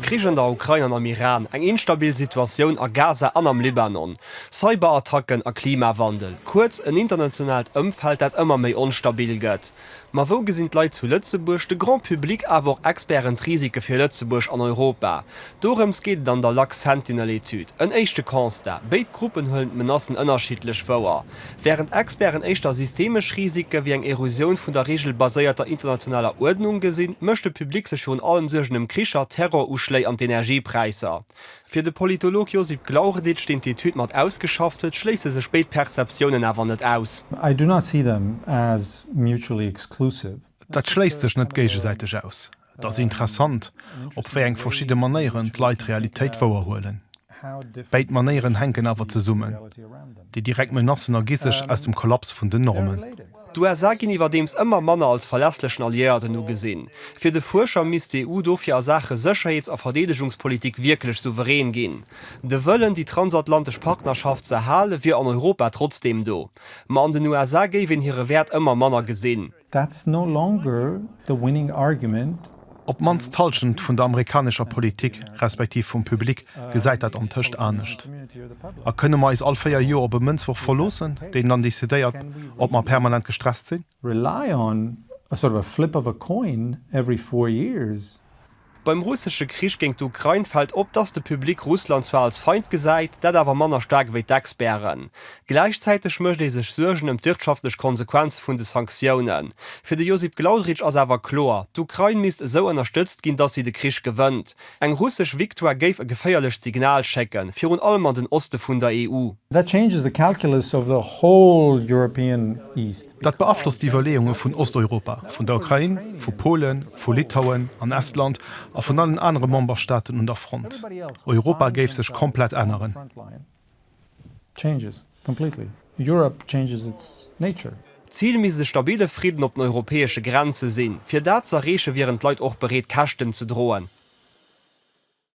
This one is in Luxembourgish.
Krich an der Ukrain an am Iran, eng instabil Situatioun a Gaza an am Libanon, Cyberattacken a Klimawandel, kuerz en internationaalt Ëmfeld, dat ëmmer méi onstabil gëtt. Ma wou gesinn d'Leit zu Lëtzebuerg, de Grand public awer och Experten d'Risike fir Lëtzebuerg an Europa? Dorëms geet et an der Lux Sentinel Etüd. En éischte Constat, Béid Gruppen huelen d'Menacen ënnerschiddlech wouer. Wärend Experten éischter systemesch Risike wéi eng Erosioun vun der reegelbaséierter internationaler Uerdnung gesinn, mécht de Public sech virun allem Suergen ëm Kricher, Terroruschléi an d'Energiepräisser. Fir de Politolog Josip Glaurdic, deen d'Etüd mat ausgeschafft huet, schléisse sech béid Perceptiounen awer net aus. I do not see them as mutually exclusive. Dat schléisst sech net géigesäiteg aus. Et ass interessant, op wéi eng verschidde Manéieren d'Leit d'Realitéit wouerhuelen. Béid Manéieren hänken awer zesummen, Déi direkt Menacen ergi sech aus dem Kollaps vun den Normen. D'USA ginn iwwerdeems ëmmer manner als verlässlechen Alliéierten ugesinn. Fir de Fuerscher misst d'EU dofir a Saache Sécherheets a Verdeedegungspolitik wierklech souverän ginn. De Wëllen, déi transatlantesch Partnerschaft z'erhalen, wier an Europa trotzdeem do. Ma an den USA géif een hire Wäert ëmmer manner gesinn. That's no longer the winning argument. Op d'mannst d'Hallschent vun der amerikanescher Politik, respektiv vum Public, gesäit dat antëscht anescht. A kënne mer eis all véier Joer op e Mënzwuerf verloossen, deen dann decidéiert, ob mer permanent gestresst sinn? Rely on a sort of a flip of a coin every four years? Beim russesche Krich géint d'Ukrain fält op, dass de Public Russland zwar als Feind gesäit, dat awer manner staark ewéi d'Experten. Gläichzäiteg mécht ee sech Suergen ëm d'wirtschaftlech Konsequenze vun de Sanktiounen. Fir de Josip Glaudrich ass awer kloer, d'Ukrain misst esou ënnerstëtzt ginn, dass si de Krich gewënnt. Eng russesch Victoire géif e geféierlecht Signal schécken, virun allem an den Oste vun der EU. That changes the calculus of the whole European East. Dat beaflosst d'Iwwerleeunge vun Osteuropa, vun der Ukrain, vu Polen, vu Litauen an Estland a vun allen anere Memberstaaten un der Front. Europa géif sech komplett änneren. D'Zil misst e stabille Fridden op den europäesche Grenze sinn. Fir dat z'erreeche wieren d'Leit och bereet, Käschten ze droen.